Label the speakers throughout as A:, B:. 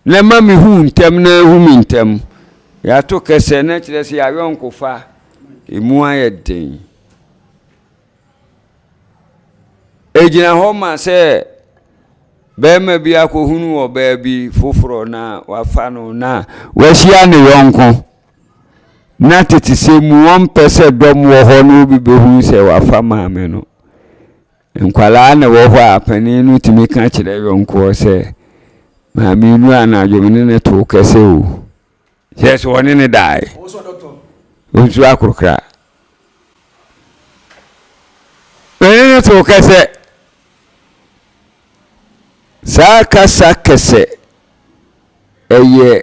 A: Na ɛma mehu wo ntɛm na ahu me ntɛm. Yɛato kɛsɛ na kyerɛ sɛ yɛayɔnkofa ɛmu ayɛ den. Ɛgyina hɔ ma sɛ bɛrima bi akɔhunu wɔ baabi foforɔ na wafa no na wahyia ne yɔnko na tete sɛ mu wɔmpɛ sɛ dɔm wɔ hɔ na obi bɛhunu sɛ wafa maame no. Nkwadaa na ɛwɔ hɔ a panin no tumi ka kyerɛ yɔnkoɔ sɛ, Maame Nnuru anadwo me ne no too kɛsɛ o. Kyerɛ sɛ ɔne no dae. Ɔnsuro akorokra. Me ne no too kɛsɛ. Saa kasa kɛsɛ ɛyɛ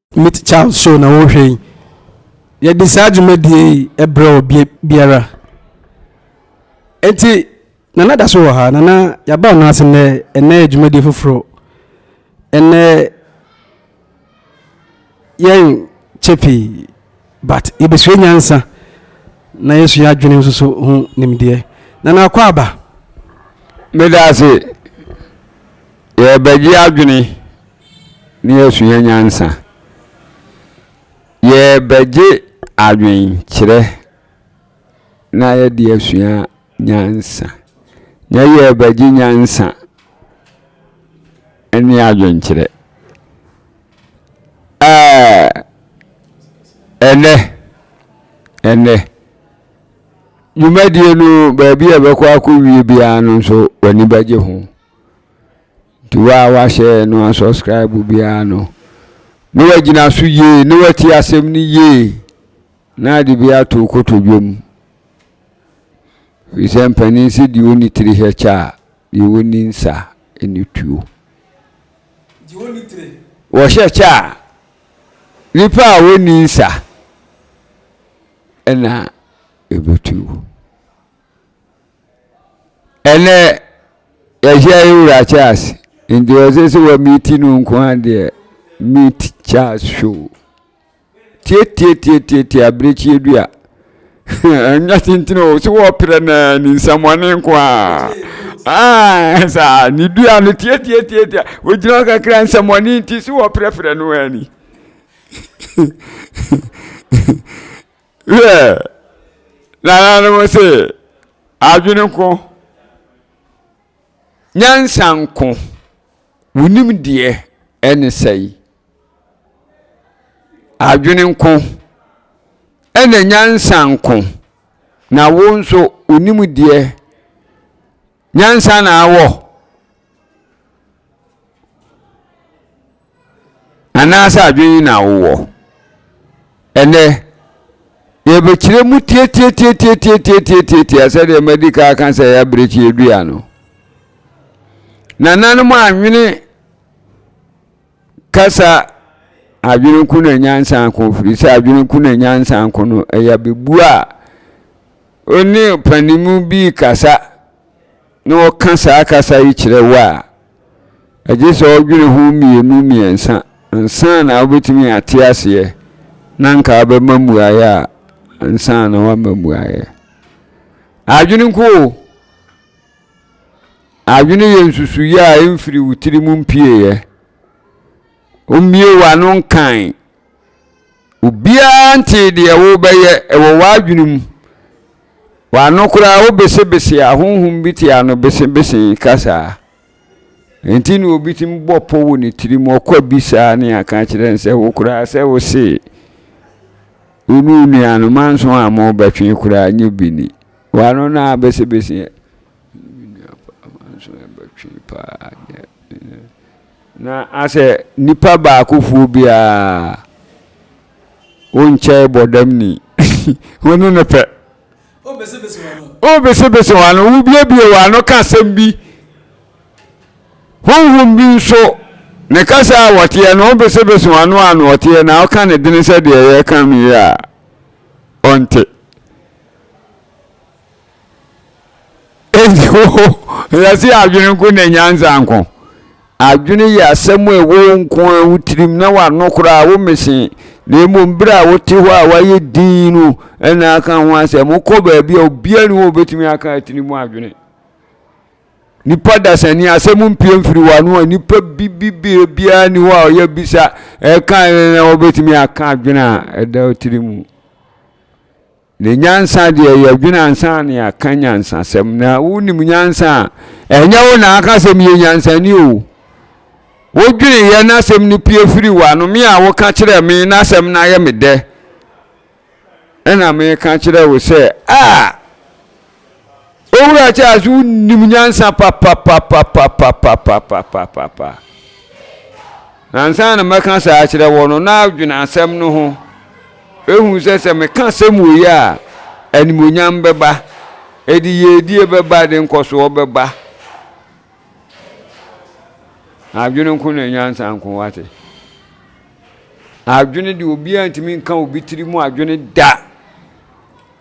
B: Meet Child show na worehwɛ yi. Yɛde saa dwumadie yi brɛ wɔ bie biara. Enti Nana da so wɔ ha. Nana yɛaba ɔno ase nnɛ. Ɛnnɛ yɛ dwumadie foforɔ. Ɛnnɛ yɛn kyɛ pii but yɛbɛsua nyansa na yɛsua adwene nso so ho nimdeɛ. Nana akɔ aba. Meda
A: ase. Yɛbɛgye adwene na yɛasua nyansa. Yɛrebɛgye adwenkyerɛ na yɛde asua nyansa. Nyɛ yɛrebɛgye nyansa ne adwenkyerɛ. Ɛɛ ɛnɛ ɛnɛ dwumadie no baabi a ɛbɛkɔ akɔwie biara no nso w'ani bɛgye ho. Nti wo a woahyɛ no asɔskraibo biara no, na woagyina so yie, na woatie asɛm no yie, na ade bi ato wo kotodwe mu. Ɛfiri sɛ mpanin se deɛ ɔnni tiri hɛ kyɛ a, deɛ ɔnni nsa ne tuo.
B: Wɔhyɛ kyɛ a,
A: nipa a ɔnni nsa ɛna ɛbɛtuo. Ɛnɛ yɛahyia yɛ wura Charles nti ɔsɛ sɛ wɔ meeti no nko a deɛ meet Charles show tietietietie abirekyie dua ɛnyɛ tenten o so wɔpere na ne nsɛmɔne nko a ah, saa ne dua no tietietietie wogyina hɔ kakra nsɛmɔne nti so wɔprɛprɛ no ani Hwɛ, nananom se, adwene nko, nyansa nko, wo nimdeɛ ɛne sɛe. Adwene nko, ɛna nyansa nko, na wo nso wo nimdeɛ Nyansa na awɔ? Anaasɛ adwene na wowɔ? Ɛnnɛ, yɛbɛkyerɛ mu tiatiatiatiatiatiatiatia sɛdeɛ madi ka aka sɛ ɛyɛ abirekyie dua no. Nananom anwene Kasa adwene ko na nyansa ko, firi sɛ adwene ko na nyansa ko no ɛyɛ abɛbuo a ɔne ɔpanimu bi kasa na ɔka saa kasa yi kyerɛ wo a ɛgye sɛ ɔdwene ho mmienu mmiɛnsa ansa na wobɛtumi ate aseɛ na nka wabɛma mmuaeɛ a ansa na wama mmuaeɛ adwene ko o Adwene yɛ nsusuiɛ a ɛmfiri wo tiri mu mpieeɛ. Wommue w'ano nkae. Obiara ntee deɛ worebɛyɛ, ɛwɔ w'adwene mu. W'ano koraa wobesebese a, honhom bi te ano besebese kasa. Enti na obi tumi bɔ pɔ wɔ ne tiri mu, ɔkɔ bi saa ne aka kyerɛ no sɛ wo koraa sɛ wo se, wo ne wo nuanom anso a mobɛtwe koraa nyɛ bi ni. W'ano no ara besebese ɛ. Me nua papa nso ɛbɛtwe paa deɛ. Na asɛ nipa baakofoɔ biara wonkyɛe bɔdam ni. Wo ne no pɛ. Wobesebese w'ano, wobiebie w'ano ka asɛm bi. Honhom bi nso, ne kasa a wɔteɛ no, wobesebese w'ano a na ɔteɛ na woka no dene sɛ deɛ yɛreka no yi a, ɔnte. Wiase yɛ adwene nko na nyansa nko. Adwene yɛ asɛm a ɛwɔ wo nko ara wo tirim na w'ano koraa wo mmese. Na mmom berɛ a wote hɔ a wayɛ dinn no na aka ho asɛm. Wokɔ baabi a obiara nni hɔ a obɛtumi aka atiri mu adwene. Nipa dasani asɛm mpue mfiri w'ano a nipa bi bi bi biara nni hɔ a ɔyɛ bisa ɛka na wobɛtumi aka adwene a ɛda wo tirim. Ne nyansa deɛ yɛdwene ansa na yɛaka nyansasɛm na wonim nyansa a ɛnyɛ wo na aka sɛ meyɛ nyansani o wodwene yɛ na asɛm no pie firi w'ano me a woka kyerɛ me na asɛm no ayɛ me dɛ ɛna meka kyerɛ wo sɛ a Owura Charles wonim nyansa papapapapapapapapapa na nsa na mɛka saa akyerɛ wɔ no na adwene asɛm no ho ehu sɛ sɛ meka asɛm wɔ yi a animonyam bɛba ɛde yɛdie bɛba ɛde nkɔsoɔ bɛba adwene nko na nyansa nko wate adwene de obiara ntumi nka obi tiri mu adwene da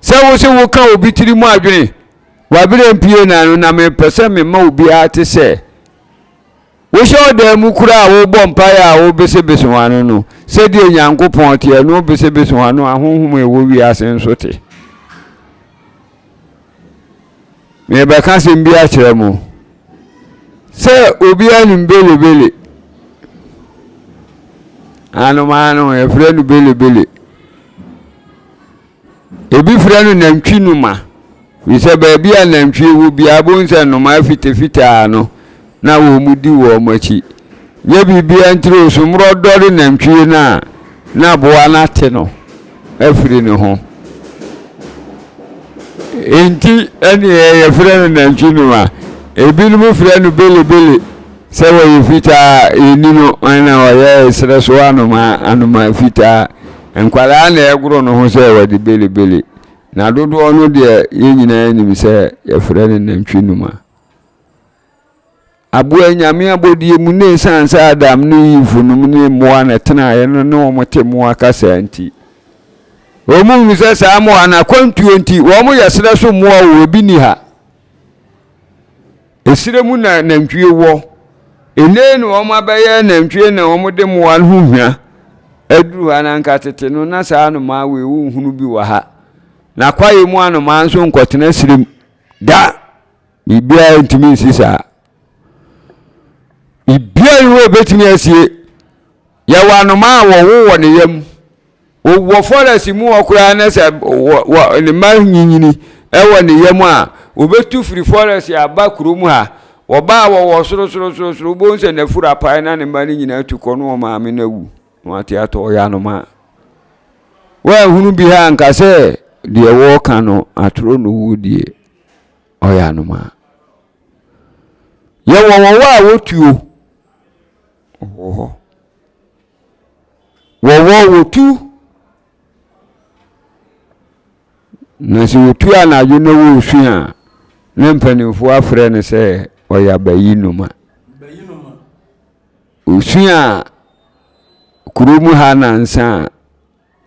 A: Sɛ wo se woka obi tiri mu adwene, w'aberɛ mpue na no na mepɛ sɛ mema obiara te sɛ wohyɛ ɔdan mu koraa a wobɔ mpaeɛ a wobesebese w'ano no, sɛdeɛ Onyankopɔn te, ɛno wobesebese w'ano a honhom a ɛwɔ wiase nso te. Merebɛka asɛm bi akyerɛ mo sɛ obiara nim belebele anomaa no yɛfrɛ no belebele Ebi frɛ no nantwi noma, firi sɛ baabi a nantwie wɔ biara bohu sɛ nnomaa fitafita ara no na wɔdi wɔn akyi. Nyɛ biribiara ntire o, so mmorɔdɔre nantwie no a na aboa no ate no afiri ne ho. Enti ɛneɛ yɛfrɛ no nantwi noma. Ebinom frɛ no belebele sɛ wɔyɛ fitaa, yɛnni no, ɛna ɔyɛ serɛ so anomaa, anomaa fitaa. Nkwadaa na ɛgoro no ho sɛ wɔde belebele, na dodoɔ no deɛ yɛn nyinaa nim sɛ yɛfrɛ no nantwinuma. Aboa nyame abɔdeɛ mu ne ɛsiane sɛ Adam ne Eve nom ne mmoa na ɛtenaeɛ no ne wɔn te mmoa kasa nti. Wɔn mu hu sɛ saa mmoa no akwantuo nti wɔn yɛ serɛ so mmoa wɔ ebi ni ha. Ɛserɛ mu na nantwie wɔ. Nnei na wɔn abɛyɛ nantwie na wɔn de mmoa no ho hwa aduru ha na anka tete no na saa anomaa wei wo nhunu bi wɔ ha. Na kwaeɛ mu anomaa nso nkɔtena serɛ mu da. Biribiara ntumi nsi saa. Biribiara nni hɔ a ɛbɛtumi asie. Yɛwɔ anomaa a wɔwo wɔ ne yam. Wɔ forest mu hɔ koraa na sɛ ne mma nyinyini wɔ ne yam a, wɔbɛtu firi forest aba kurom ha. Wɔba a wɔwɔ sorosorosoro, wobɛhu sɛ n'afuru apae na ne mma no nyinaa tu kɔ na wɔn maame no awu. Na wɔate atɔ, ɔyɛ anomaa. Woanhunu bi ha anka sɛ deɛ wɔreka no atoro no wuo die, ɔyɛ anomaa. Yɛwɔ wɔwɔ a wɔtuo. Wɔwɔ hɔ. Wɔwɔ wɔtu. Na sɛ wɔtu anadwo na wɔresu a, na mpanimfoɔ afrɛ no sɛ ɔyɛ abayi noma. Ɔsu a kurom ha nansa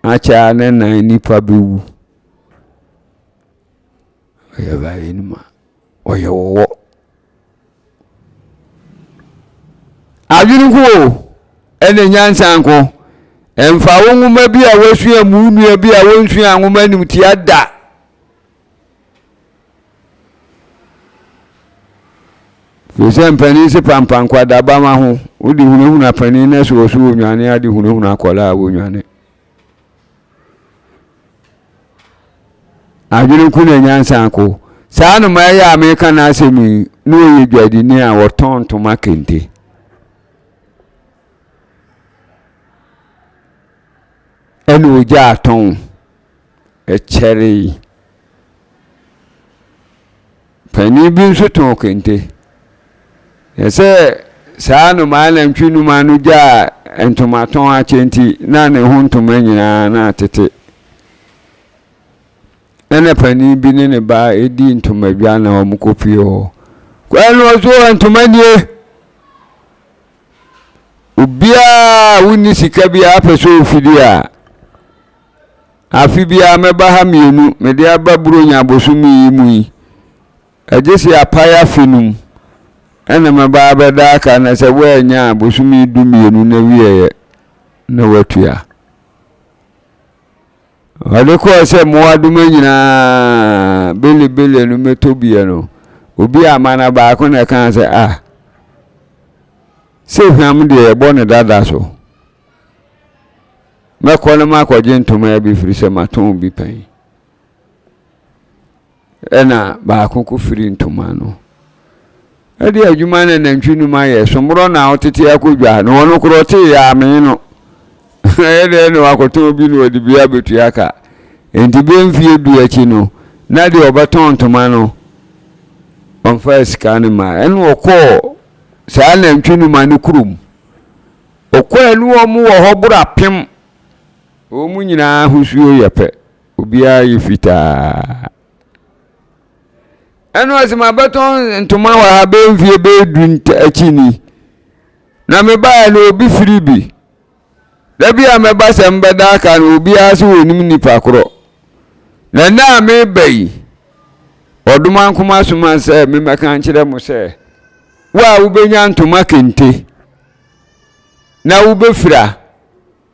A: a akyɛ a ne nan nipa bɛwu. Ɔyɛ baayɛ no mu a ɔyɛ wɔwɔ. Adwene nko o ɛne nyansa nko. Ɛmfa wo nwoma bi a wasua mu wo nua bi a wɔnsua nwoma anim tia da. Firi sɛ mpanin se pampa nkwadaba ma ho. Wode hunahuna panin na sɛ ɔso wɔnwane ade hunahuna akwadaa a wɔnwane. Adwene ko na nyansa ko. Saa anomaa yi a meka n'asɛm yi na ɔyɛ dwadini a ɔtɔn ntoma kente. Ɛna ɔgya atɔn ɛkyɛre yi. Panin bi nso tɔn kente. Na sɛ saa nnomaa nantwi nnomaa no gyaa ntomatɔn akyɛ nti, na ne ho ntoma nyinaa na atete. Ɛna panin bi ne ne ba di ntomadwa na wɔkɔ pie hɔ. Kwan no so ntoma nie. Obiara a wonni sika biara pɛ sɛ ɔfidi a, Afe biara mɛba ha mmienu mede aba Buronya bosome yi mu yi. Ɛgye sɛ apae afe no mu ɛna mɛba abɛda aka na sɛ woannya a bosome du mmienu na wieɛ na watua. Ɔde kɔɔ sɛ mmoadoma nyinaa belebele no mɛtɔ bia no obi ama na baako na ɛkaa sɛ ah sɛ hwam deɛ ɛbɔ ne dada so. Mɛkɔ na makɔgye ntomaa bi firi sɛ matɔn bi pɛn. Ɛna baako ko firi ntomaa no. Ɛde adwuma na nantwi num ayɛ somborɔ na ɔtete akɔ dwa na ɔno korɔ te yɛ amee no. Ɛyɛ dɛ na wakɔtɔn bi na ɔde bi abɛtua ka. Nti bɛ mfie du akyi no na deɛ ɔbɛtɔn ntoma no ɔmfa sika no ma ɛna ɔkɔɔ saa nantwi numa no kurom. Okwaanu a wɔwɔ hɔ boro apem. Wɔn nyinaa ahosuo yɛ pɛ. Obiara yɛ fitaa. Ɛna ɔse mabɛtɔ ntoma wɔ ha bɛyɛ mfie bɛyɛ du akyi ni. Na mebaeɛ no obi firi bi. Da bi a mɛba sɛ mbɛda aka no obiara se wɔnim nipa korɔ. Na nnɛ a meba yi Ɔdomankoma soma sɛ memmɛka nkyerɛ mo sɛ wo a wobɛnya ntoma kente. na wobɛfira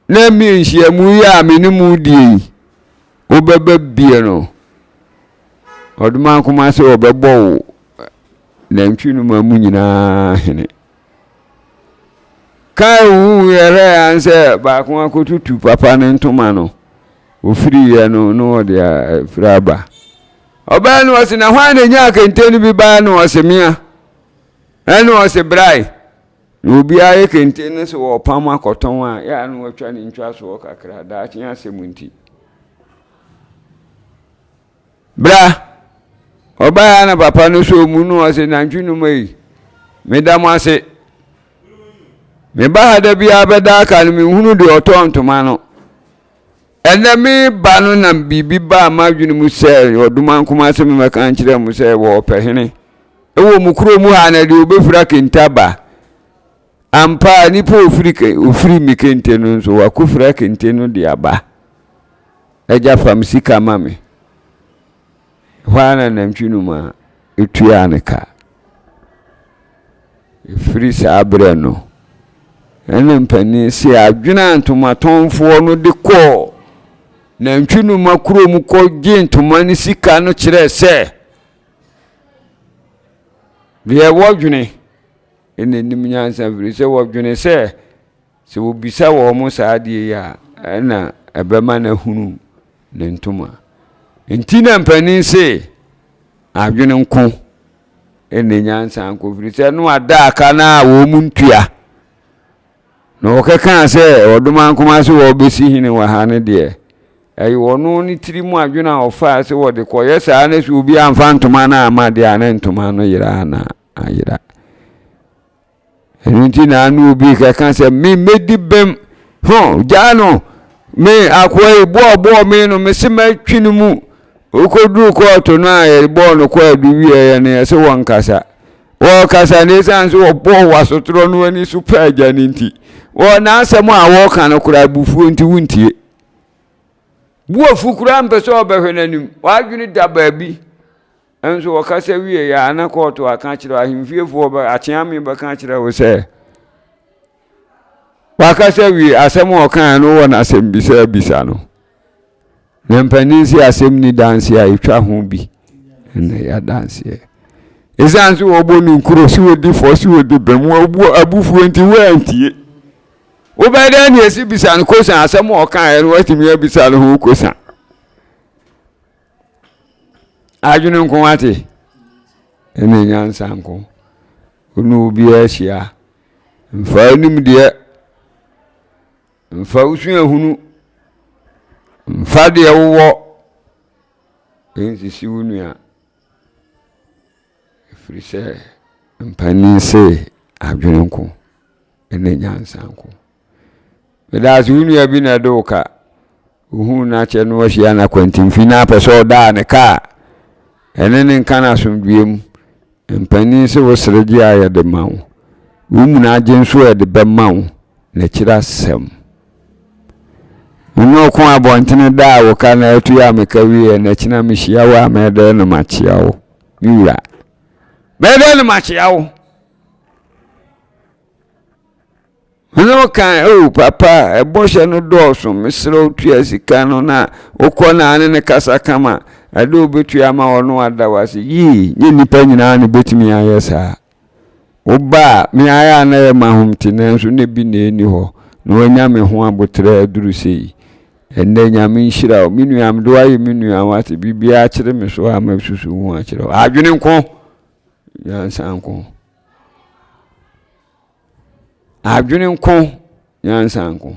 A: na nhyiamu yi a me ne mu die yi wobɛba bie no ɔdoma nkoma sɛ ɔbɛbɔ wo nantwi no ma mu nyinaa hene kaa wu yɛrɛ an sɛ baako akɔtutu papa ne ntoma no ofiri yɛ no na ɔde afiri aba ɔbaa no ɔse na hwan na nya kente no bi baa no ɔse mea ɛne ɔse brae Na obiara yɛ kente no sɛ wɔrepam akɔtɔn a, yɛ a na wɔatwa ne ntwasoɔ kakra, daakye asɛm nti. Bra! Ɔbaeɛ na papa no sɔɔ mu no ɔse, nantwi no ma yi, meda mo ase. Meba ha da biara bɛda aka no menhunu deɛ ɔtɔɔ ntoma no. Ɛnnɛ me ba no na biribi baa m'adwene mu sɛ ɔdoman koma sɛ memmɛka nkyerɛ mo sɛ wɔɔpɛ hene wɔ mo kuro mu ha na deɛ ɔbɛfira kente aba ampa a nipa ofiri ofiri me kente no nso wakɔfira kente no de aba agya fam sika ma me Ɛhɔ ara na nantwi no ma etuaa ne ka. Ɛfiri saa berɛ no, ɛna mpanin se adwene a ntomatɔnfoɔ no de kɔɔ Nantwinoma kurom kɔgyee ntoma ne sika no kyerɛɛ sɛ, deɛ wɔdwene na ɛnim nyansa, ɛfiri sɛ wɔdwene sɛ, Sɛ wɔbisa wɔn saa adeɛ yi a, ɛna ɛbɛma no ahunu ne ntoma. Nti na mpanin se, adwene nko ne nyansa nko, firi sɛ no ada aka no a wɔn ntua. Na wɔkɛkaa sɛ, ɔdoma nkoma sɛ wɔbɛsi hene wɔ ha no deɛ, ɛyɛ ɔno ne tiri mu adwene a ɔfaa sɛ wɔde kɔyɛ saa na sɛ obi amfa ntoma no amma deɛ a na ntoma no yera na ayera. Ɛno nti na ano obi kɛka sɛ, me mɛdi bem, ho, gyaa no, me akoa yi boɔ boɔ me no, mese mɛtwe no mu. Wokɔduru kɔɔto no a yɛbɔɔ no kwaadu wieɛ no, yɛse wɔnkasa. Wɔkasa no ɛsiane sɛ wɔbɔɔ wasotorɔ no ani so pɛ agya no nti, wɔ n'asɛm a wɔka no koraa abufuo nti wontie. Boafu koraa mpɛ sɛ ɔbɛhwɛ n'anim, w'adwene da baabi. Nso ɔkasa wieeɛ ara na kɔɔto aka akyerɛ ahemfiefoɔ bɛ akyeame bɛka akyerɛ wo sɛ wakasa wie asɛm a ɔkaeɛ no wɔ no asɛmmisa abisa no na mpanin si asɛm ni danseɛ a ɛtwa ho bi na ɛyɛ adanseɛ ɛsiane sɛ wɔbɔ no nkuro sɛ wɔdi fɔ sɛ wɔdi bɛm wɔbu abufuo nti woantie wobɛyɛ dɛ ne ɛsi bisa no kosan asɛm a ɔkaeɛ no watumi abisa no ho kosan adwene nko ate ɛna nyansa nko wone obiara hyia mfa anim deɛ mfa wosu ahunu mfa deɛ wowɔ ɛnsisi wo nua ɛfiri sɛ mpanin se adwene nko ɛna nyansa nko medaase wo nua bi na ɛde wo ka Ohuu no akyɛ no ahyia no akwantim fi na apɛ sɛ ɔda a ne ka a ɛne ne nka no asomdwoeɛ mu. Mpanin se wo sere gye a yɛ de ma wo, wo munu agye nso a yɛ de bɛma wo na akyiri asɛm. Me ne wo ko abɔntene da a wo ka no atu a me ka wieɛ na akyina me hyia wo a mɛyɛ dɛn na makyea wo me wura? Mɛyɛ dɛn na makyea wo? Hɔn ɔkãa, Ao papa, bɔhyɛ no dɔɔ sõ, meserɛ wo tua sika no na wokɔ na ane no kasa kama, dɛ wobetua ama ɔno ɔada wo ase. Yii, nnyɛ nyimpa nyina na obetumi ayɛ saa. Wo ba a, me ara a nna yɛ ma hom tse nanso nna bi na enni hɔ na oenya me ho aboterɛ aduru sei. Ndɛ Nyame nhyira wo, me nua, mede wo ayɛ me nua, wɔatse, biribiara akyere me so a masusu ho akyerɛ wo. Adwene nko, nyansa nko. Adwene nko, nyansa nko.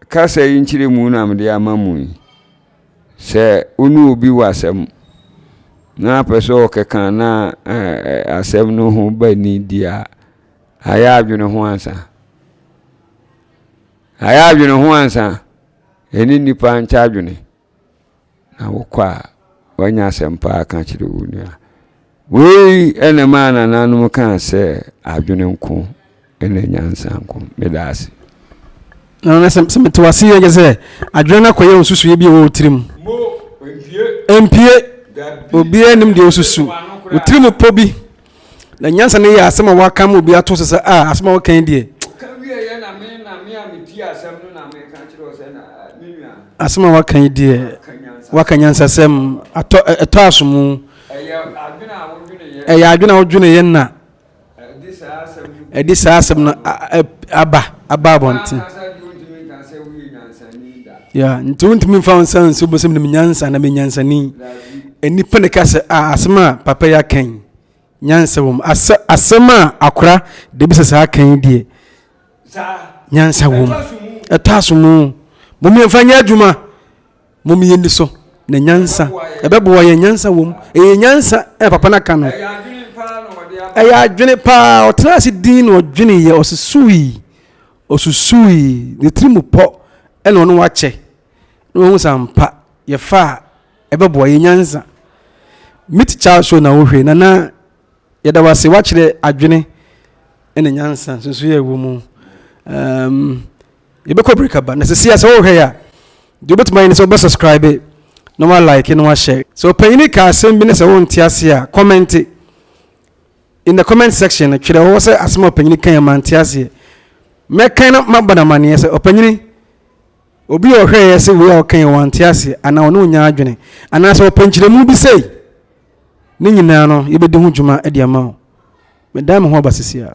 A: Kasa yi nkyerɛ mu na mede ama mu yi. Sɛ wo ne obi wɔ asɛm na apɛ sɛ ɔkɛka na asɛm no ho ba ni di a, ayɛ adwene ho ansa. Ayɛ adwene ho ansa. Ɛne nnipa nkyɛ adwene. Na wokɔ a, woanya asɛmpa a ka kyerɛ wo nua. Wei na ɛmaa nananom kaa sɛ adwene nko na nyansa nko. Meda ase. Na na sɛ mete wo ase
B: yie kyɛ sɛ adwene no akɔyɛ nsusuiɛ bi a ɛwɔ wo tirim. Ɛmpue. Obiara nim deɛ wosusu. Wo tirim pɔ bi. na nyansa no yɛ asɛm a wɔaka ama obi ato so sɛ, a, asɛm a wɔka yi deɛ. Ɔka wieeɛ na me na me a metie asɛm no na meka kyerɛ wo sɛ na me nua. Asɛm a wɔaka yi deɛ, wɔaka nyansasɛm, atɔ ɛtɔ asomu. Ɛyɛ adwene a wodweneeɛ. Ɛyɛ adwene a wodweneeɛ na. Ɛde saa asɛm no. Ɛde saa asɛm no aba aba abɔnten. Ankasa deɛ wontumi nka sɛ woyɛ nyansani da. Yeah, nti wontumi mfa wo nsa nso bosem de menyansa na menyansani nnipa ne ka sɛ a ah, asɛm a papa yi aka yi nyansa wɔ mu asɛm a akora de bisa saa aka yi deɛ nyansa wɔ mu ɛtɔ aso mu mom yɛmfa nyɛ adwuma mom yɛni so na nyansa ɛbɛboa yɛ nyansa wɔ mu ɛyɛ nyansa ɛ papa no aka no ɛyɛ adwene paa ɔtena ase din na ɔdwene yɛ ɔsesuui Osusuui, ne tirim pɔ na ɔne wɔn kyɛ, na wahu sɛ ampa yɛfa a ɛbɛboa yɛn nyansa. Mitt Chalshaw na wohwɛ, Nana, yɛda wo ase woakyerɛ adwene ne nyansa nsunsuanso a ɛwɔ mu. Um, yɛbɛkɔ break aba, na sɛsi a sɛ wohwɛ yɛ a, deɛ wobɛtumi ayɛ ne sɛ wobɛ subscribe na wa like na wa share. Sɛ ɔpanyini ka asɛm bi ne sɛ wonte ase a, kɔmɛnte. in the comment section no twerɛ hɔ sɛ asɛm a ɔpanyini kan yɛ mante aseɛ mɛkan na mabɔ no amanneɛ sɛ ɔpanyini obi a ɔhwɛeɛ sɛ wei a ɔkan yɛ wante aseɛ anaa ɔne ɔnya adwene anaasɛ ɔpɛ nkyerɛmu bi sei ne nyinaa no yɛbɛdi ho dwuma de ama wo medan me ho aba sisi a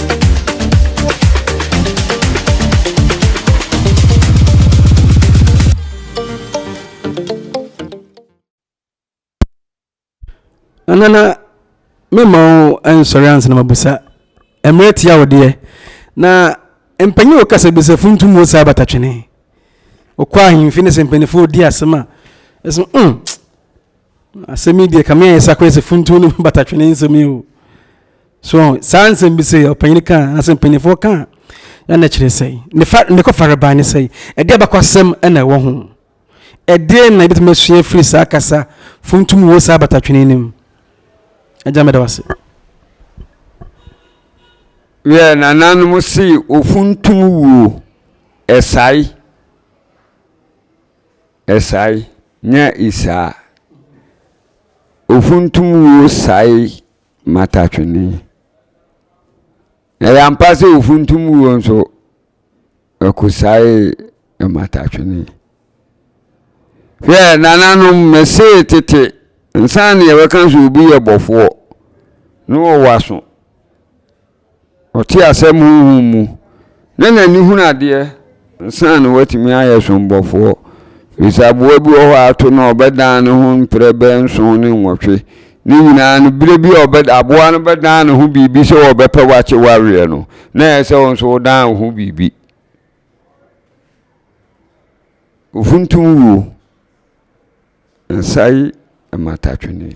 B: nana mema wo nsɔre ansa na mabusa mmerɛ tia wo deɛ na mpanyin wɔ kasa bi sɛ funtum wɔ saa batatwene ɔkɔ ahemfi ne sɛ mpanyinfoɔ di asɛm a ɛsɛ mm Asɛm yi deɛ kame ayɛ sa koraa sɛ funtuo no batatwene nsɛm yi o so saa nsɛm bi sɛ ɔpanyin ka anasɛ mpanimfoɔ ka na na kyerɛ sɛ ne fa ne kɔ farebae ne sɛ ɛde abakɔ asɛm na ɛwɔ ho ɛdeɛ na ebitumi asua firi saa kasa funtum wɔ saa batatwene no mu agya mɛda wase
A: yɛ nananom se ofuntum wuo ɛsae Ɛsae nya isaa. Ofuntum wuo sae matatwene. Ɛyɛ ampa sɛ ofuntum wuo nso, ɛkosae matatwene. Hwɛ, nananom, mesee tete, nsa na yɛbɛka sɛ obi yɛ bɔfoɔ, na ɔwɔ aso. Ɔte asɛm honhom mu, na n'ani hunu adeɛ ansa na watumi ayɛ sombɔfoɔ, ɛfiri sɛ aboa bi wɔ hɔ a ato no a ɔbɛdan ne ho mprɛ bɛyɛ nson ne nwɔtwe, ne nyinaa no berɛ bi a ɔbɛ aboa no bɛdan ne ho biribi sɛ ɔbɛpɛ wakye waweɛ no, na ɛyɛ sɛ wo nso wodan wo ho biribi. Ofuntum wuo, nsae mmatatwene.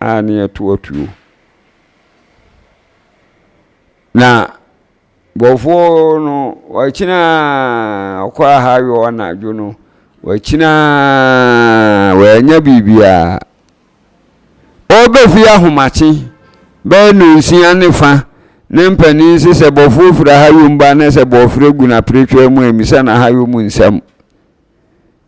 A: a ne yɛto atuo na bɔfoɔ no wakyina ɔkɔ aha yɔ anadwo no wakyina wanya biribiara ɔbɛfie ahomakye bɛyɛ nonsia ne fa ne mpanin se sɛ bɔfoɔ firi aha yom ba ne sɛ bɔfrɛ gu na pretwa mu amisa na aha yom nsɛm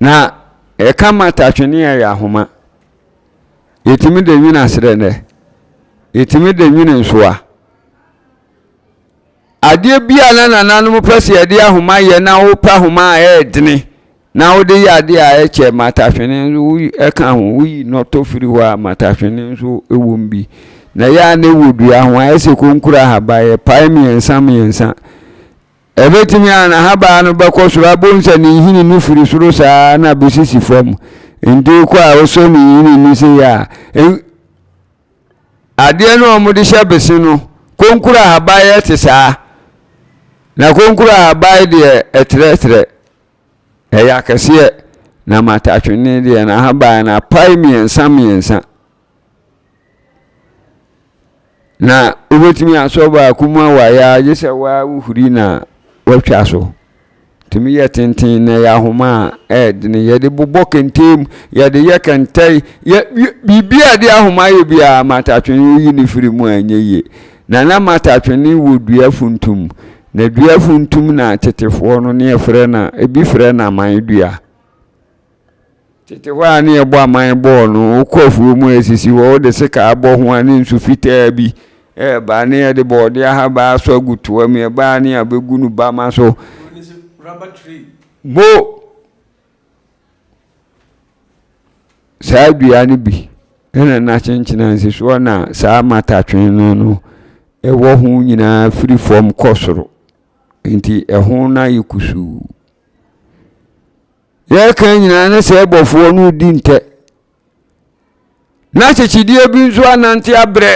A: Na ɛka mata twene a ɛyɛ ahoma. Yɛtumi de nwene aserɛnɛ. Yɛtumi de nwene nsoa. Adeɛ bi a na nananom pɛ sɛ yɛde ahoma yɛ na wopɛ ahoma a ɛyɛ dene na wode yɛ adeɛ a ɛkyɛ mata twene nso woyi ɛka ho woyi nɔtɔ firi hɔ a mata twene nso ɛwom bi. Na ɛyɛ a na ɛwɔ dua ho ayɛ sɛ konkura ahaba yɛpae mmiɛnsa mmiɛnsa. Ebetumi a n'ahabaa no bɛkɔ soro abom sɛ ne nhini no firi soro saa ara na besi si fam. Enti wokɔ a wosɔ ne nhini no sei a, en, adeɛ no a wɔde hyɛ bese no, konkuro ahaban ɛte saa. Na konkuro ahaban deɛ ɛtrɛtrɛ, ɛyɛ akɛseɛ. Na matatwene deɛ n'ahaban no apae mmiɛnsa mmiɛnsa. Na wobɛtumi asɔ baako mu awaeɛ a gye sɛ waa wohuri na watwa so tumi yɛ tenten na yɛ ahoma a ɛɛdene yɛde bobɔ kɛntɛm yɛde yɛ kɛntɛn yɛ biribi a de ahoma yɛ biara matatwene woyi ne firi mu a ɛnyɛ yie na na matatwene wɔ dua funtum na dua funtum na tetefoɔ no ne ɛfrɛ na ebi frɛ na aman dua Tete hɔ ara ne yɛbɔ aman bɔɔ no, wokɔ afuo mu a ɛsisi hɔ, wode sekaa bɔ ho a ne nsu fitaa bi reba ne yɛde bɔɔde ahabaa asɔ agu toa mu, yɛba a ne yɛabɛgu no bama so. Mo! Saa dua no bi na na kyenkyena nsisoɔ na saa matatwe no no ɛwɔ ho nyinaa firi fam kɔ soro, nti ɛho no ayɛ kusuu. Yɛreka nyinaa na sɛ ɛbɔfoɔ no redi ntɛ na kyekyedeɛ bi nso anante abrɛ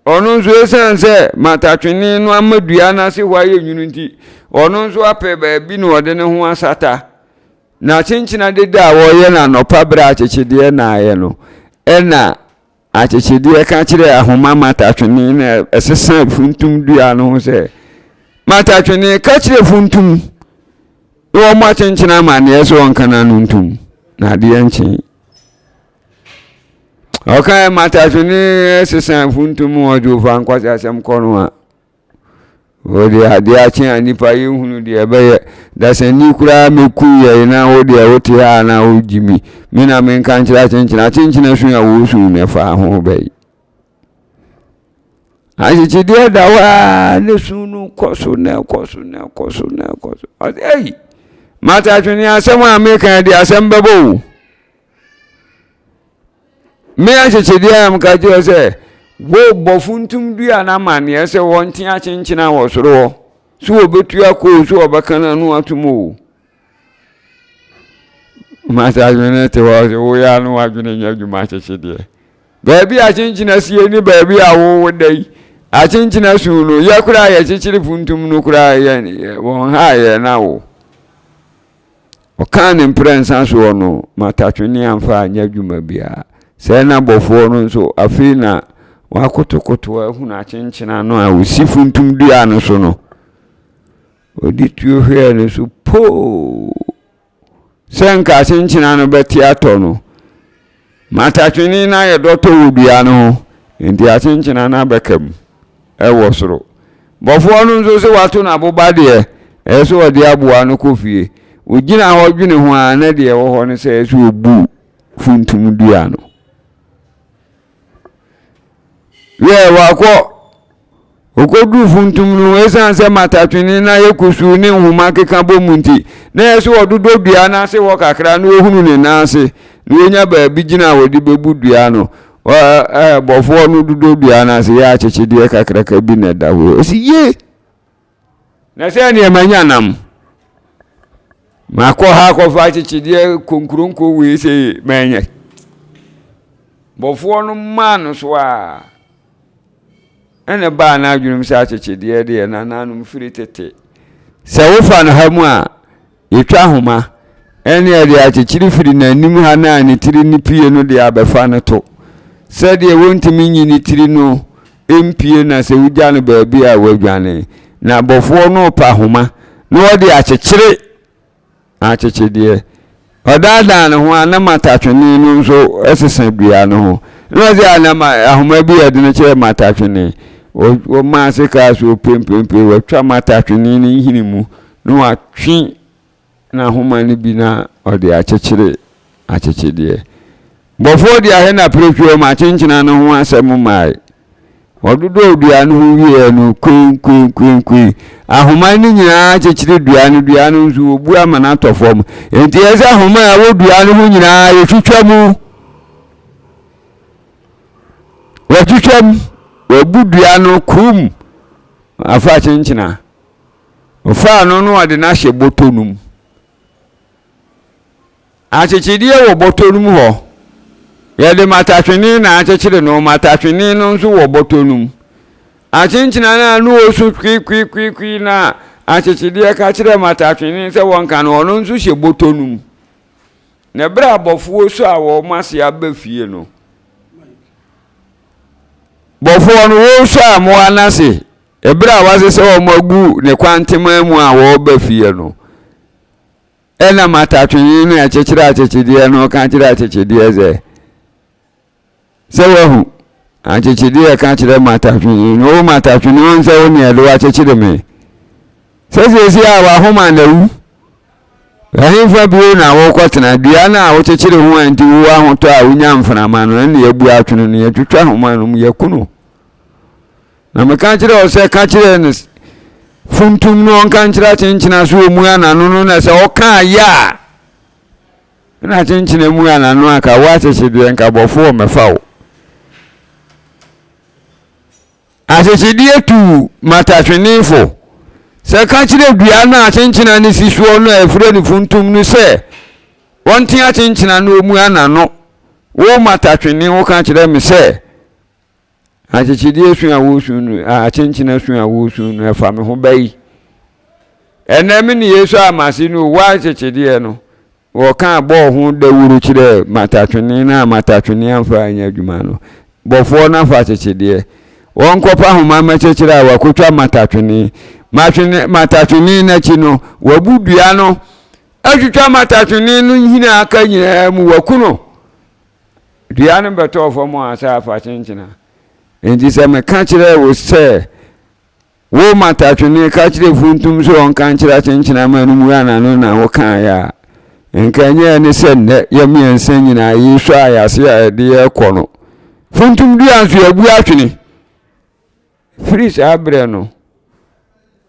A: ɔno nso ɛsiane sɛ matatwene no ama dua no ase hɔ ayɛ nwunu nti ɔno nso apɛ baabi na ɔde ne ho asata na kyenkyena deda a wɔyɛ no anɔpa berɛ a kyekyedeɛ naayɛ no ɛna Akyekyedeɛ ka kyerɛɛ ahoma matatwene no a ɛsesa funtum dua no ho sɛ, Matatwene, ka kyerɛ funtum na wɔmmɔ akyenkyene amanneɛ sɛ ɔnka n'ano ntom, na adeɛ nkyen. Ɔkae matatwene sesa funtum ɔdwofa nkwasi asɛm kɔ no a, Wo deɛ adeɛ akye a nnipa yɛnhunu deɛ ɛbɛyɛ dasani koraa mɛku yɛn na wo deɛ wote ha a na wogye mi me na menka nkyerɛ akyenkyena akyenkyena su a wɔsu no ɛfa ho bɛyi ahyekyedeɛ da hɔ a ne su no kɔ so na ɛkɔ so na ɛkɔ so na ɛkɔ so ɔsɛ ei mata twene asɛm a meka de asɛm bɛbɔ o Me ahyɛkyɛdeɛ a meka kyerɛ sɛ wɔbɔ funtum dua no amanneɛ sɛ wɔnte akyenkyena wɔ soro hɔ so wɔbɛtu akɔ o so wɔbɛka no ano atom o masa adwene te hɔ sɛ woyɛ ano adwene nyɛ adwuma ahyɛkyɛdeɛ baabi a akyenkyena sie ne baabi a wowo da yi akyenkyena su no yɛ koraa yɛkyekyere funtum no koraa yɛ wɔn ha yɛ no awo Ɔkaa ne mprɛnsa so hɔ no, matatwene amfa anyɛ adwuma biara. Sɛɛ na bɔfoɔ no nso, afei na wakotokoto ahunu akyenkyena no a ɔsi funtum dua no so no. Ɔde tuo hwɛɛ no so poo sɛ nka akyenkyena no bɛte atɔ no. Marta twenee na ayɛ dɔtɔ wɔ dua no ho, enti akyenkyena no abɛka mu wɔ soro. Bɔfoɔ no nso se wato no aboba deɛ ɛyɛ sɛ ɔde aboa no kɔ fie. Ɔgyina hɔ dwene ho ara na deɛ ɛwɔ hɔ ne sɛ ɛyɛ sɛ ɔbu funtum dua no. Hwɛ, wakɔ! Okoduu funtum no, esiane sɛ matatwene no ayɛ kusuu ne nhoma keka bom nti, na ɛyɛ sɛ ɔdodɔ dua no ase hɔ kakra na ohunu ne nan ase, na wanya baabi gyina a wɔde bebu dua no. Ɔbɔfoɔ no dodɔ dua no ase yɛ akyekyedeɛ kakraka bi na ɛda hɔ. Ɔse, Ye! Na sɛ neɛ manya nam makɔ ha akɔfa akyekyedeɛ konkuronko wei sɛ manyɛ bɔfoɔ no maa no so a ɛna baa no adwenem sɛ akyekyedeɛ deɛ nananom firi tete sɛ wofa no ha mu a Yɛtwa ahoma, ɛne ɛde akyekyere firi n'anim ha no a ne tiri no pue no de abɛfa no to. Sɛdeɛ wɔntumi nyi ne tiri no mpue na sɛ wogya no baabi a wadwane. Na bɔfoɔ no repa ahoma na ɔde akyekyere akyekyedeɛ. Ɔdaadaa ne ho a na matatwene no nso sesa dua no ho. Na ɔsɛ a na ahoma bi yɛ dene kyerɛ matatwene. Wɔmaa ase kaa so pempempe, wɔatwa matatwene no nhini mu. Na watwe n'ahoma no bi na ɔde akyekyere akyekyedeɛ. Bɔfoɔ de ahɛ na pirepire wɔn akyenkyena no ho asɛm mae. Wɔdodɔɔ dua no ho wieeɛ no, koenkoenkoenkoen, ahoma no nyinaa kyekyere dua no, dua no nso, wɔbu ama no atɔ fam. Enti ɛyɛ sɛ ahoma a ɛwɔ dua no ho nyinaa, wɔtwitwa mu. Wɔtwitwa mu, wɔabu dua no, kum, afa akyenkyena. Ɔfaa no na ɔde no ahyɛ bɔtɔ no mu. Akyekyedeɛ wɔ bɔtɔ no mu hɔ. Yɛde matatwene na akyekyere no. Matatwene no nso wɔ bɔtɔ no mu. Akyenkyena no a na ɔsu kwiikwiikwiikwi na akyekyedeɛ ka kyerɛ matatwene sɛ wɔnka no, ɔno nso hyɛ bɔtɔ no mu. Na berɛ a bɔfoɔ su a wɔn ase aba fie no, bɔfoɔ no wɔresu a mmoa no ase. Eberɛ a wasesɛ wɔn agu ne kwanteman mu a wɔreba fie no, ɛna matatwenye no a ɛkyekyere akyekyedeɛ no ka kyerɛ akyekyedeɛ sɛ, sɛ wahu, akyekyedeɛ ka kyerɛ matatwenye no, o matatwenye wɔn sɛ wo ne ɛde wakyekyere me, sɛ siesie a wahoma na wu, ɛhefa bio na wokɔtena dua no a wokyekyere ho a nti wo ahotɔ a wonya mframa no, ɛna yɛabu atwene no, yɛtwitwa homa no mu, yɛku no. Na meka kyerɛɛ wo sɛ ka kyerɛ no funtum no ɔnka nkyerɛ akyenkyena so ɔmu anano no na sɛ ɔka ayɛ a na akyenkyena mu anano aka wo ahyehyedeɛ nkabɔfoɔ mɛfa wo ahyehyedeɛ tu matatwenefo sɛ ka kyerɛ dua no akyenkyena no si soɔ no a ɛfrɛ no funtum no sɛ wɔnte akyenkyena no ɔmu anano wo matatwene wo ka kyerɛ me sɛ Akyekyedeɛ su a woresu no, akyenkyena su a woresu no, ɛfa me ho ba yi. Ɛnɛ me ne Yesu a mase no owɔ akyekyedeɛ no, wɔka bɔɔ ho dawuro kyerɛɛ matatwene no a matatwene amfa anyɛ adwuma no. Bɔfoɔ no afa akyekyedeɛ. Wɔnkɔpa ahoma mmɛkyekyere a wakɔtwa matatwene. Matwene, matatwene no akyi no, wabu dua no atwitwa matatwene no nhini a aka nyinaa mu, waku no. Dua no bɛtɔɔ fam a sɛ afa kyenkyena. Enti sɛ meka kyerɛɛ wo sɛ, Wo matatwene, ka kyerɛ funtum sɛ ɔnka nkyerɛ akyenkyena ma no mua n'ano na wokaeɛ a, nka ɛnyɛɛ ne sɛ nnɛ yɛn mmiɛnsa nyinaa yɛrehwɛ ayase a ɛde yɛrekɔ no. Funtum dua nso, yɛabu atwene. Firi saa berɛ no,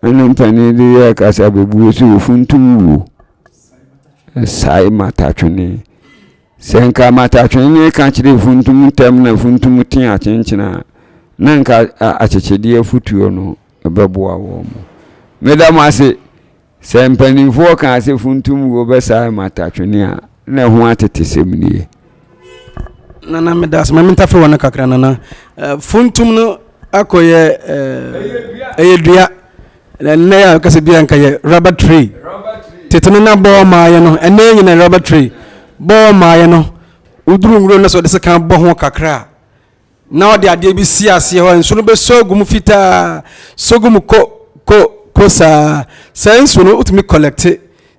A: na ne mpanin de yɛɛ kasa bɛbue sɛ ɔfuntum wuo. Ɛsae matatwene. Sɛ nka matatwene no reka kyerɛ funtum ntɛm na funtum te akyenkyena a, na nka akyekyedeɛ afotuo no bɛboa wɔn. Meda mo ase. Sɛ mpanimfoɔ kaa sɛ funtummuo bɛsane mata twene a, na ɛho atetesɛm nie.
B: Nana meda ase ma mentafe wɔ no kakra nana eh, funtum no akɔyɛ eh, ɛyɛ dua ɛnɛ a kasa bia nka yɛ rubber tree tete no na bɔɔ maayɛ no ɛnɛ nyina rubber tree bɔɔ maayɛ no woduru nwuro no sɛ ɔde sɛ kan bɔ ho kakra a na ɔde adeɛ bi si aseɛ hɔ a nsuo no bɛsɔ agu mu fitaa sɔ gu mu ko ko ko saa saa nsuo no wotumi collect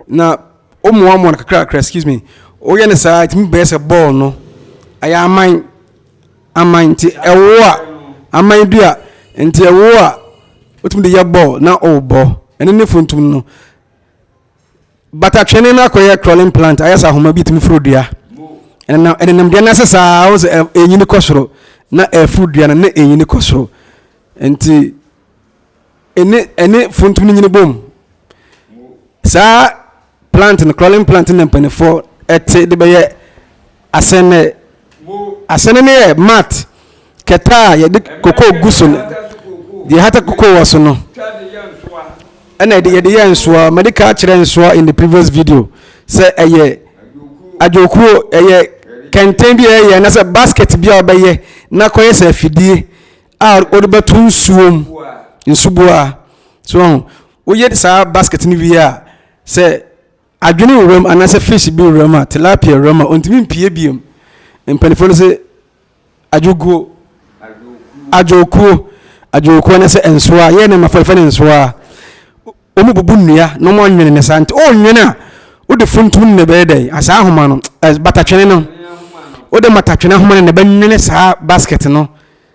B: na womoamoa no kakrakra excuse me woyɛ no saa ɛtumi bɛyɛ sɛ bɔɔl no ɛyɛ aman aman nti ɛwo a aman dua nti ɛwo a wotumi de yɛ bɔɔl na ɔwobɔ ɛno ne funtum no Batatwene no akɔyɛ crawling plant ayɛ sɛ ahoma bi tumi foro dua ɛnenam ɛnenam dua no ase saa wɔn sɛ ɛnyini kɔ soro na ɛforo dua no na ɛnyini kɔ soro nti ɛne ɛne funtum no nyini bom saa plant no crawling plant na mpanimfoɔ ɛte de bɛyɛ Asɛnɛ, asɛnɛ no yɛ mat kɛtɛ a yɛde kokoo gu so no, deɛ yɛhata kokoo wɔ so no, ɛna yɛde yɛde yɛ nsoa. Mɛde ka kyerɛ nsoa in the previous video sɛ ɛyɛ adwokuo, ɛyɛ kɛntɛn bi a ɛyɛ anasɛ basket bi a wɔbɛyɛ na kɔyɛ sɛ afidie a wɔde bɛto nsuo mu, nsuboa. So woyɛ saa basket no wie a, sɛ Adwene wura mu anaasɛ fish bi wura mu a, tilapia wura mu a, ɔntumi mpue bio. Mpanimfoɔ no sɛ adwoguo, adwokuo, adwokuo anaasɛ nsoa, yɛn nneɛma fɛfɛ ne nsoa a, wɔn bubu nnua na wɔn anwene ne saa nti, ɔnwene a, wode funtum ne na ɛbɛyɛ dɛ, asaa ahoma no, batatwene no, wode matatwene ahoma no na ɛbɛnwene saa basket no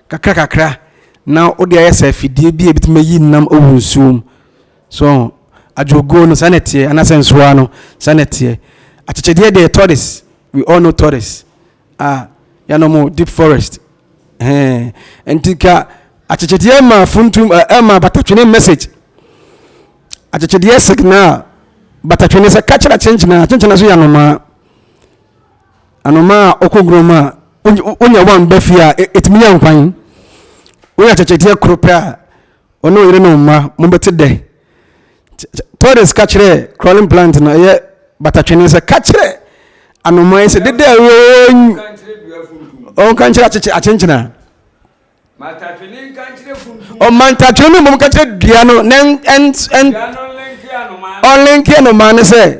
B: kakra kakra na wode ayɛ sɛ afidie bi a ebitumi ayi nam wɔ nsuo mu. So ɔho adwoguo no saa na ɛteɛ anaasɛ nsoaa no saa na ɛteɛ? Akyekyedeɛ deɛ tortoise we all know tortoise a yɛanom deep forest hɛn nti ka akyekyedeɛ ɛma funtum ɛma eh, batatwene message akyekyedeɛ signal batatwene sɛ ka kyerɛ akyenkyena akyenkyena so yɛ anomaa anomaa a ɔkɔ gurom a wonya wɔn ba fie a ɛtumi e, yɛ nkwan wonya akyekyedeɛ koro pɛ a ɔne ɔyere no mma mobɛte dɛ. Torres ka kyerɛɛ crawling plant no ɛyɛ batatwene sɛ ka kyerɛ anomaa yi sɛ dede a ɔnka nkyerɛ akyenkyena ɔmantatwene no mmom ka kyerɛ dua no na ɔlenke anomaa no sɛ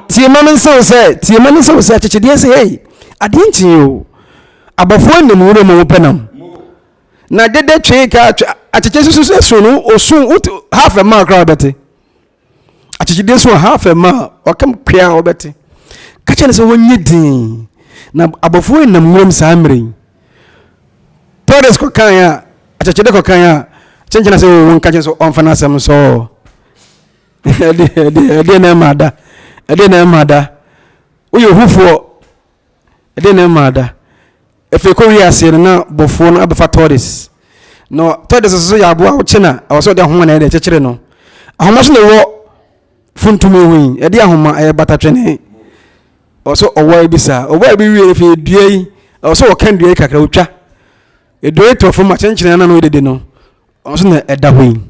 B: tiema no nsew sɛ tiema no nsew sɛ akyekyedeɛ sɛ hei adeɛ nkyee o abɔfoɔ nim nwura mu wɔpɛ nam na dede twee ka akyekye susu sɛ so no osu wote half a mile koraa ɔbɛte akyekye de so half a mile ɔkam kwea ɔbɛte ka kyerɛ no sɛ wɔnyɛ din na abɔfoɔ nam nwuram saa mmerɛ yi tɔres kɔkan a akyekye de kɔkan a kyenkyena sɛ wɔwɔ nka kyerɛ sɛ ɔmfa no asɛm sɛ ɛdeɛ na ɛma da ɛdeɛ na ɛma da woyɛ hufoɔ Ɛdeɛn na ɛmaa da? Afei kɔ wiaseɛ no na bɔfoɔ no abɛfa tɔdes na tɔdes nso yɛ aboa wokye na ɛwɔ sɛ ɔde ahoma na ɛde kyekyere no ahoma so na ɛwɔ funtumi ho yi ɛde ahoma ɛyɛ batatwene ɛwɔ sɛ ɔwɔ bi saa ɔwɔ bi wie afei dua yi ɛwɔ sɛ ɔka dua yi kakra ɔtwa dua yi tɔ fam akyenkyene na no yɛ dede no ɔno so na ɛda hɔ yi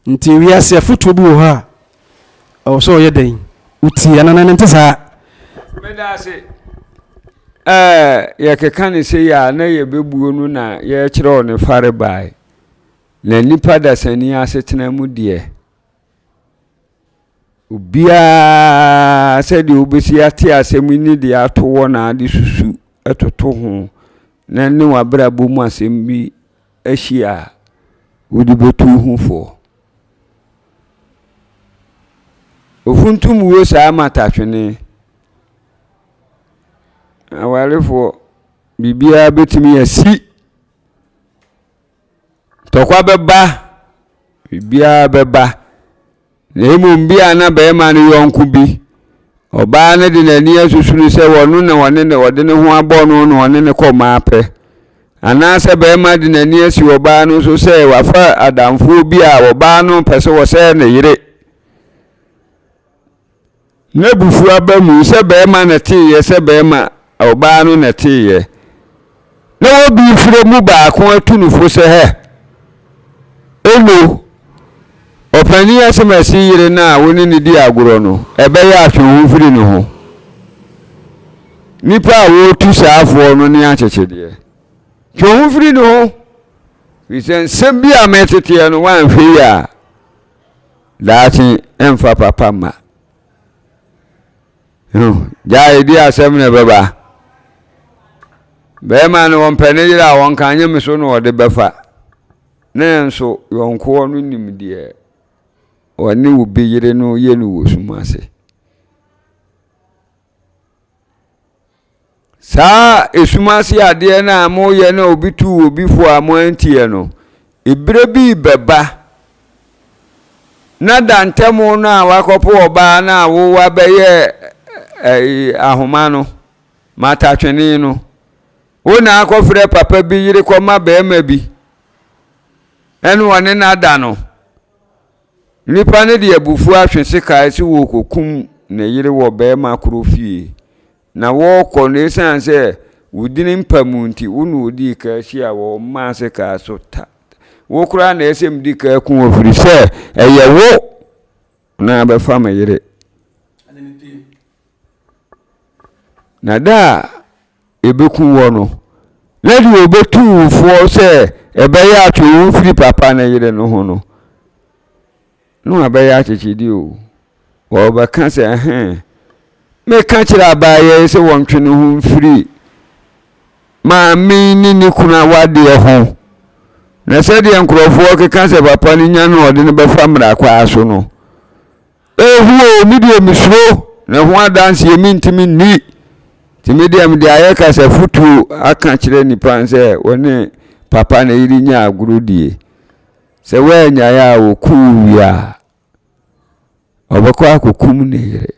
B: Nti wiase afotuo bi wɔ hɔ a ɛwɔ sɛ ɔyɛ dɛn? Wotie anaa ne nte saa? Medase
A: ɛɛ yɛkeka ne sɛ yɛ a na yɛbɛbuo no na yɛkyerɛw ne fare bae. Na nipa dasani asetena mu deɛ. Obiara, sɛdeɛ wobɛsi ate asɛm yi ne deɛ ato hɔ na ade susu toto ho na ne w'abrabɔ mu asɛm bi ahyia a, wode bɛtu ho foɔ. Ofuntum wuo saa matatwene. Awarefoɔ, biribiara bɛtumi asi. Ntɔkwa bɛba, biribiara bɛba. Na mmom bi a na barima no yɔnko bi, ɔbaa no de n'ani asusu no sɛ ɔno na ɔne ne ɔde ne ho abɔ no na ɔne no kɔ mmaa pɛ. Anaasɛ barima de n'ani asi ɔbaa no so sɛ wafa adamfoɔ bi a ɔbaa no pɛ sɛ ɔsɛe ne yere. N'abufuo aba mu sɛ barima na ɛteeɛ sɛ barima, ɔbaa no na ɛteeɛ. Na wɔbi frɛ mu baako atu no fo sɛ, Hɛ! Ono, ɔpanin Asemasi yere no a wo ne no di agorɔ no, ɛbɛyɛ a twe wo ho firi ne ho. Nnipa a wɔretu saa afoɔ no ne akyekyedeɛ. Twe wo ho firi ne ho, firi sɛ nsɛm bi a meteteɛ no woanhwɛ yie a, Daakye mfa papa mma. Ho, gyae di asɛm na ɛbɛba. Bɛrima no wɔmpɛ ne yere a wɔnka nye me so na ɔde bɛfa. Ne nso yɔnkoɔ no nim deɛ ɔne obi yere no yɛ no wɔ sum ase. Saa esum ase adeɛ no a moyɛ na obi tu obi fo a moanteɛ no, berɛ bi bɛba na dantɛmo no a wakɔpo ɔbaa no a wowa bɛyɛ ahoma no, matatwene no. Wo na akɔfrɛ papa bi yere kɔma barima bi ɛne ɔne no ada no. Nipa no de abufuo atwe sekan sɛ ɔrekɔkum ne yere wɔ barima koro fie, na wɔrekɔ no ɛsiane sɛ wo dini mpa mu nti, wo na ɔdii kan hyiaa wɔ ɔmaa sekan so ta. Wo koraa na ɛsɛ medi kan ku wo ɛfiri sɛ ɛyɛ wo na abɛfa me yere. Na da a ebekum wɔ no, na deɛ obetu wo foɔ sɛ ɛbɛyɛ atwe wo mfiri papa ne yere no ho no, na wabɛyɛ akyekyedeɛ o. Wɔbɛka sɛ, ɛhɛn, meka kyerɛ abaayɛ yi sɛ wɔntwe ne ho mfiri maame yi ne ne kunu awadeɛ ho. Na sɛdeɛ nkurɔfoɔ keka sɛ papa no nya no ɔde no bɛfa mmara kwaa so no, Ehu o, me deɛ mesuro, na ho adanseɛ mentumi nni. Nti me deɛ mede ayɛ kasa futuo aka kyerɛ nnipa sɛ wɔne papa ne yere nya agorɔ die. Sɛ wɔanyae a wɔku wo wie a, ɔbɛkɔ akɔkum ne yere.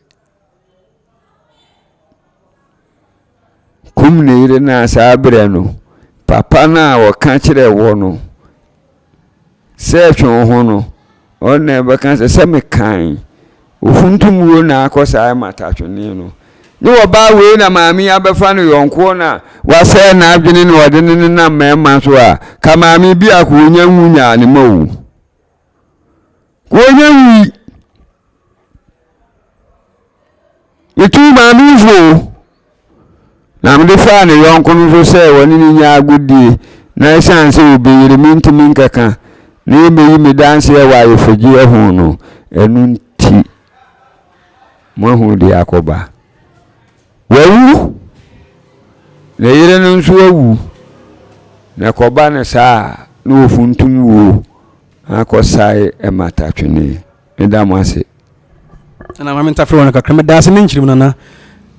A: Kum ne yere no a saa berɛ no, papa no a ɔka kyerɛ wɔ no sɛ twe wo ho no, ɔno na ɛbɛka sɛ sɛ mekan ofuntum wuo na akɔ saa matatwene no ne ɔbaa wei na maame yi abɛfa no yɔnkoɔ no a wasɛe n'adwene na ɔde ne nenam mmarima so a ka maame biako ɔnya nwu nyaa ne ma wu. Wɔnyɛ nwui. Metuu maame yi fo o. Na mede faa ne yɔnko no nso sɛ wɔne no nyɛ agodie na ɛsiane sɛ ɔbɛyere me nti menkɛka na yɛmmɛyi me danseɛ wɔ ayefogyeɛ ho no, ɛno nti moahu deɛ akɔba. Wawu, ne yere no nso awu, na ɛkɔba no saa a, na wɔfuntum wuo akɔsae Mata Twene. Meda mo ase.
B: Ɛna ma mentafere wɔn kakra. Meda ase me nkyiri mu nana.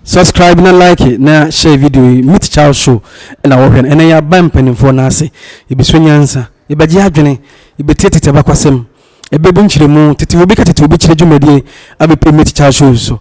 B: Subscribe na like na share video yi. Meet Charles Show ɛna wɔhwɛ no. Ɛnɛ yɛaba mpanimfoɔ no ase. Yɛbɛsua nyansa. Yɛbɛgye adwene. Yɛbɛtie tete abakwasɛm. Ɛbɛbu nkyerɛmu. Tete obi ka tete obi kyerɛ dwumadie abɛpue Meet Charles Show so.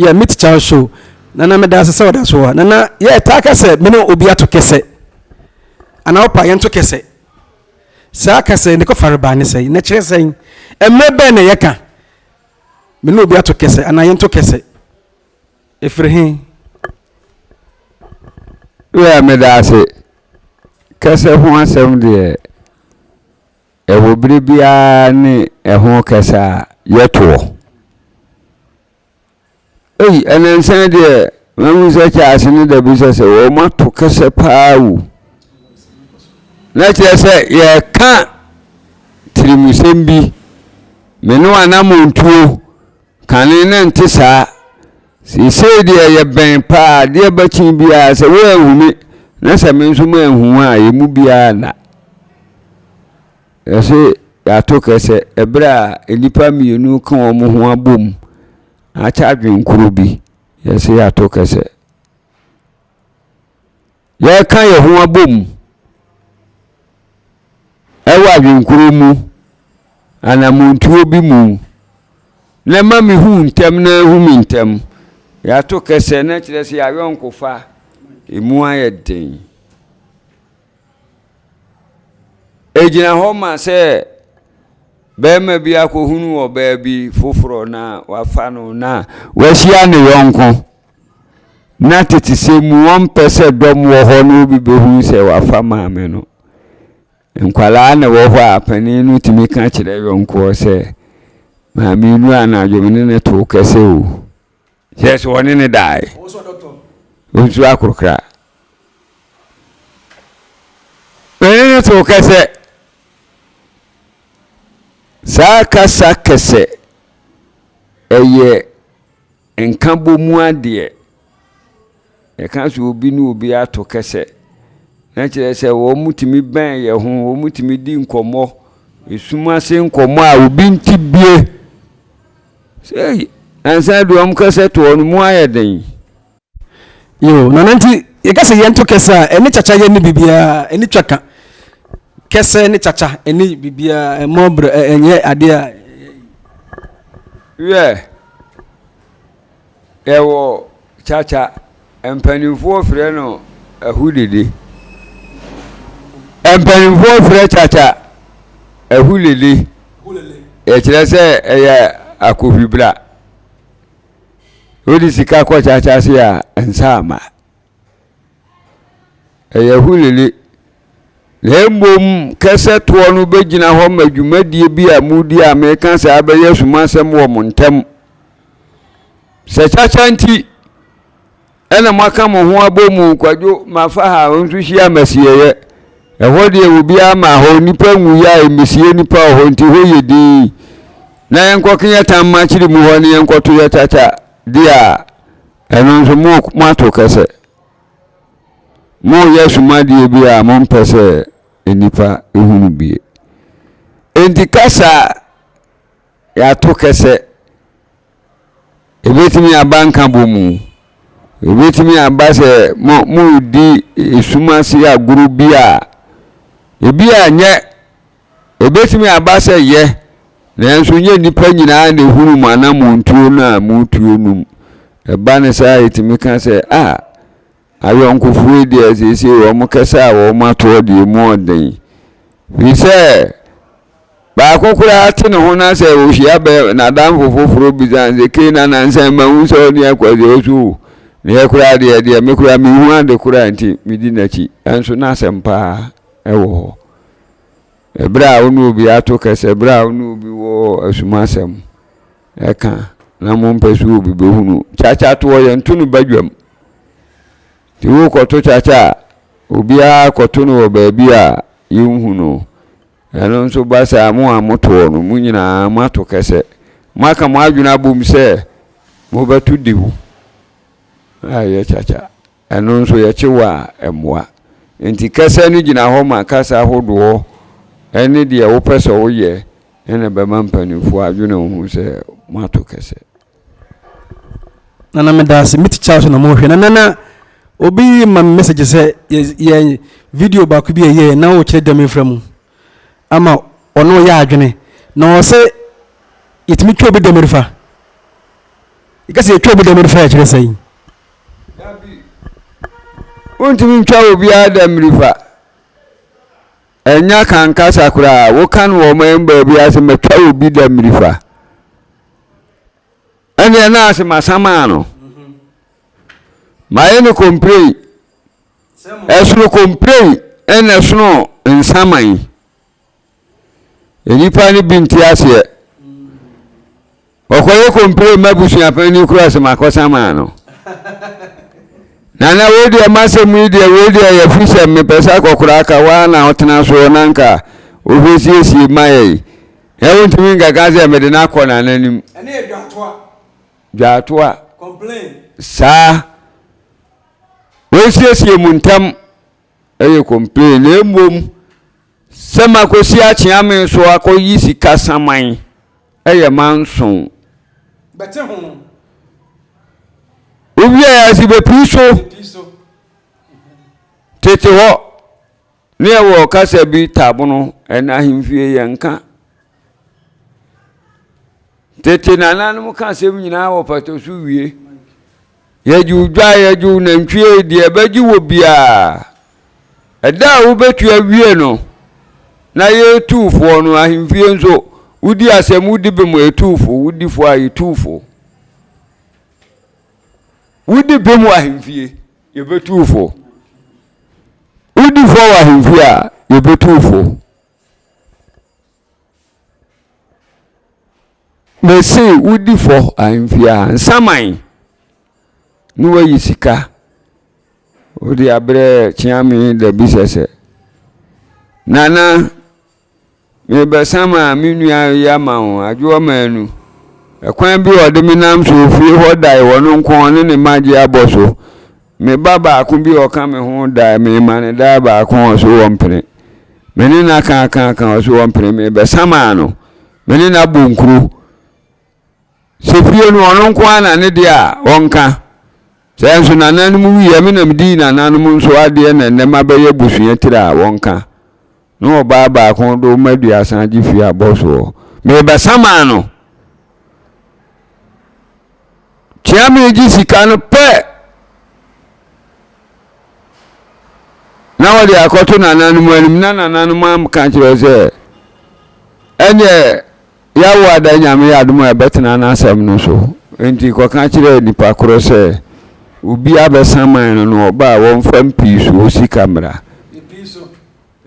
B: yɛ me tikya so nana meda ase sɛ ɔda so hɔ nana yɛ taa ka sɛ me ne obi ato kɛsɛ anaa wopa yɛnto kɛsɛ saa kɛsɛ ne kɔfare baa ne sɛn na kyerɛ sɛn mmerɛ bɛn na yɛka Me ne obi ato kɛsɛ anaa yɛnto kɛsɛ. Ɛfiri he?
A: Wei a meda ase. Kɛsɛ ho asɛm deɛ, ɛwɔ berɛ biara ne ɛho kɛsɛ a yɛtoɔ. Ei ɛnansa deɛ mahu sɛ kyaase no da bi sɛ sɛ wɔn ato kɛsɛ paa wu na kyerɛ sɛ yɛka tirimusɛm bi me ne wanamontuo kane ne nte saa seesei deɛ yɛbɛn paa adeɛ bakyi biara sɛ woanhu me na sɛ me nso manhu a yɛn mu biara nna yɛse yɛato kɛsɛ ɛberɛ a nnipa mmienu ka wɔn ho abom Akyɛ adwene koro bi, yɛse yɛato kɛsɛ. Yɛka yɛn ho abom ɛwɔ adwenkoro mu anamontuo bi mu na ɛma me hu ntɛm na ɛhu me ntɛm. Yɛato kɛsɛ na kyerɛ sɛ yɛayɔnkofa ɛmu ayɛ den. Ɛgyina hɔ ma sɛ barima bi akɔhunu ɔbaa bi foforɔ na wafa no na wahyia ne yɔnko na tete sɛ mu wɔmpɛ sɛ dɔm wɔ hɔ na obi bɛhunu sɛ wafa maame no nkwadaa na wɔ hɔ a panin no tumi ka kyerɛ yɔnkoɔ sɛ maame nu anadwo ne ne too kɛsɛ o Kyerɛ sɛ wɔne no dae. Ɔnsuo akorokora. M'ani no too kɛsɛ. Saa kasa kɛsɛ, ɛyɛ nkabɔmu adeɛ. Yɛka sɛ obi ne obi ato kɛsɛ na kyerɛ sɛ wɔtumi bɛn yɛn ho, wɔtumi di nkɔmmɔ, esum ase nkɔmmɔ a obi nte bie. Sei, nansa deɛ wɔn kɛsɛ toɔ no mu ayɛ den. Yoo,
B: na ɛno nti yɛka sɛ yɛnto kɛsɛ a, ɛne kyakya yɛ ne biribiara, ɛne twa ka. Kɛsɛ ne kyakya ɛne biribiara, ɛmmɔ berɛ, ɛnyɛ adeɛ a ɛyɛ yie. Wiɛ.
A: Yɛwɔ kyakya, mpanimfoɔ frɛ no ahudede. Mpanimfoɔ frɛ kyakya ahulele. Yɛkyerɛ sɛ ɛyɛ akohwibra. Wode sika kɔ kyakya ase a, nsa ama. ɛyɛ hulili, na mmom kɛsɛ toɔ no bɛgyina hɔ ma dwumadie bi a modi a meka saa bɛyɛ sumasɛm wɔ mo ntam. Sɛ kyakya nti ɛna moaka mo ho abɔ mu kwadwo mafa ha nso hyia masieeɛ. Ɛhɔ deɛ obiara ma hɔ nnipa nwuiɛ a ɛmmesie nnipa wɔ hɔ nti hɔ yɛ din. Na yɛnkɔke yɛn tam makyere mu hɔ ne yɛnkɔto yɛ kyakya deɛ a Ɛno nso mo moato kɛsɛ. Moyɛ sumadeɛ bi a mompɛ sɛ nnipa hunu bie. Enti kasa a yɛato kɛsɛ, ɛbɛtumi aba nkabɔ mu. Ɛbɛtumi aba sɛ mo moredi esum ase agorɔ bi a ebi a nyɛ Ebetumi aba sɛ yɛ, nanso nyɛ nnipa nyinaa na ehunu mo anammɔntuo no a moretuo no mu. Ɛba no saa a, yɛtumi ka sɛ, A, ayɔnkofoɔ yi deɛ seesei wɔkasa a wɔn atoɔ deɛ emu yɛ den. Ɛfiri sɛ, baako koraa te ne ho na sɛ ɔhyia bɛ n'adamfo foforɔ bisa no sɛ, Kei na nansa yi mahu sɛ ɔne akwasi ɔso o. Na yɛ koraa deɛ, deɛ me koraa menhu ade koraa nti medi n'akyi. Nanso na asɛm paa wɔ hɔ. Ɛberɛ a wo ne obi ato kɛsɛ, ɛberɛ a wo ne obi wɔ asumasɛm ɛka na mompɛ sɛ obi bɛhunu. Kyakyatoɔ yɛnto no badwam. Nti worekɔto kyakya a, obiara kɔto no wɔ baabi a yɛnhu no. Ɛno nso ba saa mo a motoɔ no, mo nyinaa moato kɛsɛ. Moaka mo adwene abom sɛ mobɛto dehu a ɛyɛ kyakya. Ɛno nso yɛ kye wo a ɛmmoa. Enti kɛsɛ no gyina hɔ ma kasa ahodoɔ ne deɛ wopɛ sɛ woyɛ na ɛbɛma mpaninfoɔ adwene wo ho sɛ moato kɛsɛ.
B: Nana medaase me tikya so na mo hwɛ na nana obi ma me message sɛ yɛ yɛ video baako bi ɛyɛ na o kyerɛ dɛm efra mu ama ɔne ɔyɛ adwene na ɔsɛ yɛtumi twɛ obi dɛm refa yɛkasa yɛtwɛ obi dɛm refa yɛkyerɛ sɛn. Wontumi ntwa obiara da mmirifa. Ɛnya kan kasa koraa woka no wɔ ɔman baabi ase matwa obi da mmirifa. Ɛnneɛ na ase masamaa no. Mayɛ no komplei. Ɛsono komplei ɛna ɛsono nsaman. Nnipa no bi nte aseɛ. Ɔkɔyɛ kompire ma busuapɛn no kura sɛ makɔsa maa no. Nana wei deɛ masɛm yi deɛ wei deɛ yɛ fi sɛ mepɛ sɛ akɔkora aka waa na ɔtena soɔ na nka ɔbɛsiesie ma yɛ yi. Ɛ wontumi nkaka sɛ mede no akɔ nana anim. Ɛne yɛ dwaatoa. Dwaatoa. Complain. Saa. Wɔnsiesie mu ntam
A: ɛyɛ complain na mmom. Sɛ makɔsi akyeame so akɔyi sika saman yɛ manson. Bɛte
B: ho.
A: Wowiaɛ ase bɛpiri so. Tete hɔ, ne ɛwɔ kasa bi Tabono, ɛna ahemfie yɛnka. Tete nananom ka asɛm nyinaa wɔ pata so wie. Yɛgye wo dwa, yɛgye wo nantwie, deɛ ɛbɛgye wɔ biara. Ɛda a wobɛtua wie no, na yɛyɛ tuufoɔ no, ahemfie nso, wodi asɛm, wodi bem a yɛtu fo, wodi fo a yɛtu fo. Wodi bem wɔ ahemfie, yɛbɛtu fo. Wodi fo wɔ ahemfie a, yɛbɛtu fo. Mese wodi fɔ ahemfie a nsaman na wayi sika wode abrɛ kyeame da bi sɛsɛ nana mebɛsan ma me nua yi ama wo adwoɔ maanu ɛkwan bi ɔde me nam so ofie hɔ dae wɔ no nko ne ne magye abɔ so Me ba baako bi a ɔka me ho dae, mema no dae baako a ɔse ɔmpene. Me ne no aka aka aka ɔse ɔmpene, mebɛsamaa no. Me ne no abɔ nkuro. Sɛ fie no ɔno nko ara na ne deɛ a ɔnka. Sɛ nso nananom wuiɛ me na medii nananom nso adeɛ na nnɛ mabɛyɛ abusua tiri a wɔnka. no ɔbaa baako do ma aduasa gye fii abɔso hɔ. Merebɛsan maa no. Kyia meregye sika no pɛ na wɔde akɔto nananom anim na nananom aka kyerɛ sɛ ɛnyɛ yawo ada nyame yɛ adom a ɛbɛtena n'asɛm no so nti kɔka kyerɛ nipa korɔ sɛ obi abɛsan man no no ɔbaa wɔmfa mpi so sika mmra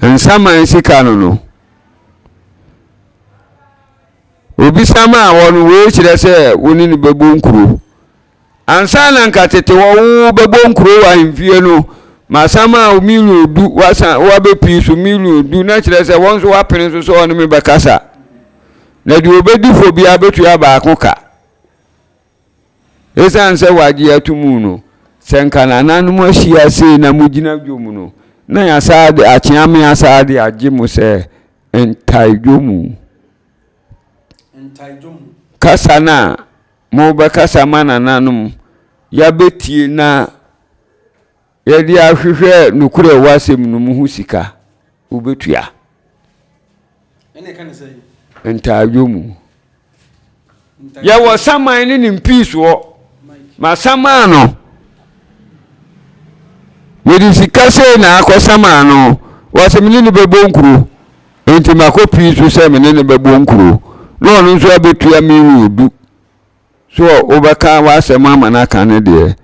A: Nsaman sika no no, obisa maa hɔ no, wei kyerɛ sɛ wo ne no bɛbɔ nkuro. Ansa na nka tete hɔ wo bɛbɔ nkuro wɔ ahemfie no, masan maa wo milion du, wasan wabɛpii so milion du, na kyerɛ sɛ wɔn nso wapene nso sɛ ɔne me bɛkasa. Na deɛ ɔbɛdi fo biara bɛtua baako ka. Esiane sɛ wɔagye ato mu no, sɛ anka nananom ahyia sei na mogyina dwom no, na yɛasaa de akyeame asaa de agye mo sɛ ntae dwomu. Kasa no a mobɛkasa ma nananom, yɛabɛtie na Yɛde ahwehwɛ nokorɛ ɛwɔ asɛm no mu ho sika, wobɛtua. Ɛne ɛka
B: ne sɛn? Ntaadwo mu.
A: Yɛwɔ saman ne ne mpiisoɔ, ma saman no. Mede sika sei na akɔ saman no, wɔse me ne no bɛbɔ nkuro, nti makɔ pii so sɛ me ne no bɛbɔ nkuro, na ɔno nso abɛtua million du. So wobɛka w'asɛm ama no aka ne deɛ,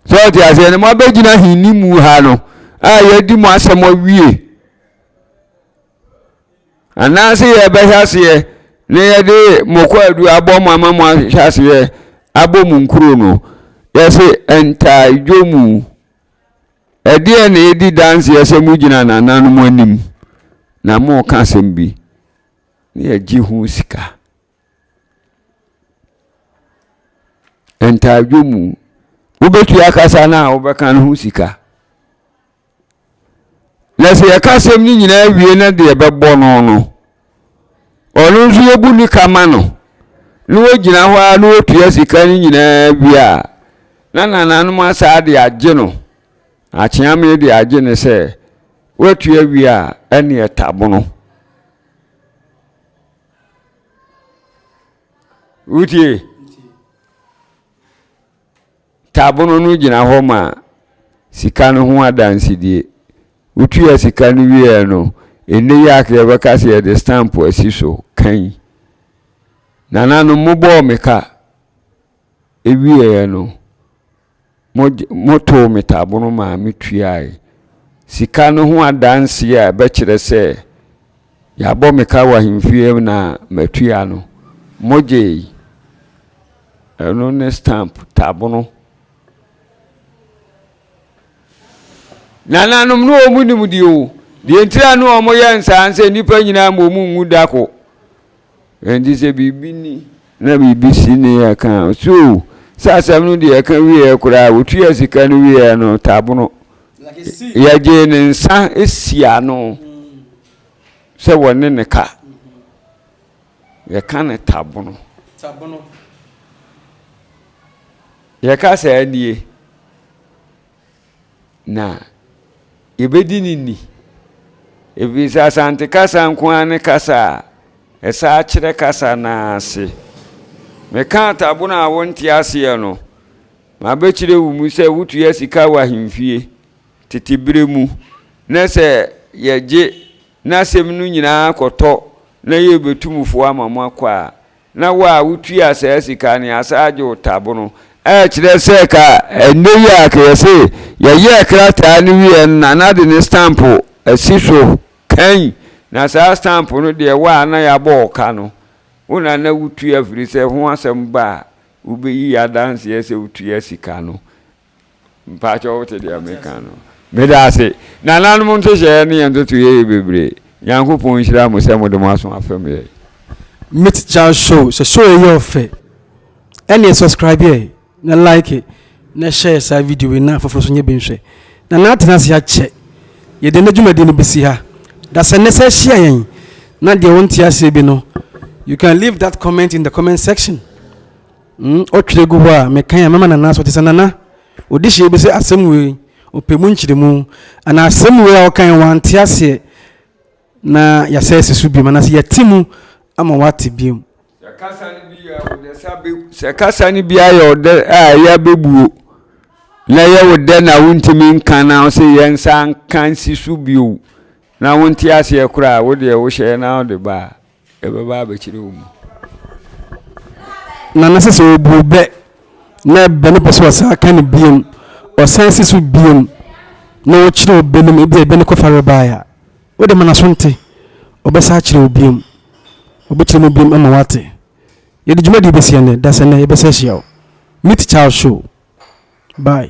A: sɛ ɔte aseɛ no moabɛgyina henni mu ha no a yɛadi mo asɛm awie anaasɛ yɛbɛhwɛ aseɛ na yɛde mo kɔ adu abɔ mo ama mo ahwɛ aseɛ abɔ mo nkuro no yɛse ntaadwo mu ɛdeɛ na ɛdi danseɛ sɛ mogyina nananom anim na moka asɛm bi na yɛgye ho sika Ntaadwo mu, wobɛtua kasa no a wobɛka no ho sika. Na sɛ yɛka asɛm no nyinaa wie na deɛ ɛbɛbɔ no no, ɔno nso yɛbu ne ka ma no na wɔgyina hɔ ara na wɔtua sika no nyinaa wie a na nananom asaa de agye no akyeame de agye no sɛ woatua wie a ɛne ɛtabono wotie tabono no gyina hɔ ma sika no ho adansedie wotua sika no wieɛ no ɛnɛ yi aka yɛbɛka sɛ yɛde stamp asi so kan nananom mobɔɔ me ka ɛwieɛ no Motow me taabono maa mituae. Sika no ho adanse a ɛbɛkyerɛ sɛ yɛabɔ me ka wɔ ahemfie na matua no, mogyei. Ɛno ne stamp, taabono. Nananom no wɔn nimdeɛ o. Deɛ ntira no wɔyɛ nsaa sɛ nnipa nyinaa ma wɔn nwu da ko. Enti sɛ biribi ni na biribi si ne yɛ ka a, so hu sɛ asɛm no deɛ ɛka wieɛ koraa a, ɔtuaa sika no wieɛ no, Tabono, yɛgyee ne nsa sii ano sɛ wɔne ne ka. Yɛka no Tabono. Yɛka saa nie. Na yɛbɛdi no ni. Ɛfiri sɛ Asante kasa nko ara ne kasa a ɛsaa kyerɛ kasa no ara ase. Meka Atabon a wonte aseɛ no, mabɛkyerɛ wo mu sɛ wotua sika wɔ ahemfie tete berɛ mu na sɛ yɛgye na asɛm no nyinaa kɔtɔ na yɛrebɛtu mufoɔ ama moakɔ a, Na wo a wotua saa sika no, yɛasan agye wo tabo no. Ɛkyerɛ sɛ ka ɛnnɛ yi a ka yɛse yɛyɛɛ krataa no wieɛ no na na de ne stamp asi so kann, na saa stamp no deɛ wo a na yɛabɔ wo ka no, wo na na wotua firi sɛ ho asɛm ba a wobɛyi adanseɛ sɛ wotua sika no. Mpaakyɛw wote deɛ meka no. Medaase. Nananom ntohyɛɛ ne yɛn ntotoeɛ yɛ bebree. Nyankopɔn nhyira mo sɛ mode mo aso afɛm yɛn. Me teacher
B: show sɛ show yi yɛ ɔfɛ ɛneɛ subscribe yɛ na like na share saa video yi na afoforɔ nso nyɛ bi nhwɛ Nana atena ase akyɛ yɛde ɛnɛ dwumadie no bɛsi ha da sɛ nnɛ sɛ ahyia yɛn na deɛ wonte aseɛ bi no you can leave that comment in the comment section Mm ɔtwerɛ gu hɔ a mekan a mɛma Nana so te sɛ Nana ɔdi hyɛ bi sɛ asɛm wei ɔpɛ mu nkyerɛmu anaa asɛm wei a ɔkan yi wante aseɛ na yɛasɛ asi so biom anaasɛ yɛate mu ama wate biom. Sɛ
A: kasa no bi yɛ wo dɛ sa bɛ sɛ kasa no bi ayɛ wo dɛ a ɛyɛ a bɛbuo na ɛyɛ wo dɛ na wontumi nka na wo se yɛn nsa nka nsi so bio na wonte aseɛ koraa a wo deɛ wohyɛ na wode ba a Ɛbɛba abɛkyerɛ wo mu.
B: Nana sɛ sɛ obu bɛ na bɛ no pɛ sɛ ɔsan aka no biom, ɔsan si so biom na ɔkyerɛ wo bɛ no mu, ebia ɛbɛ no kɔfa rebae a, wode ma n'aso nte, ɔbɛsan akyerɛ wo biom. Ɔbɛkyerɛ mu biom ama woate. Yɛde dwumadie bɛsi ɛnnɛ, dasɛnnɛ yɛbɛsan ahyia wo. Meet Charles Show. Bye.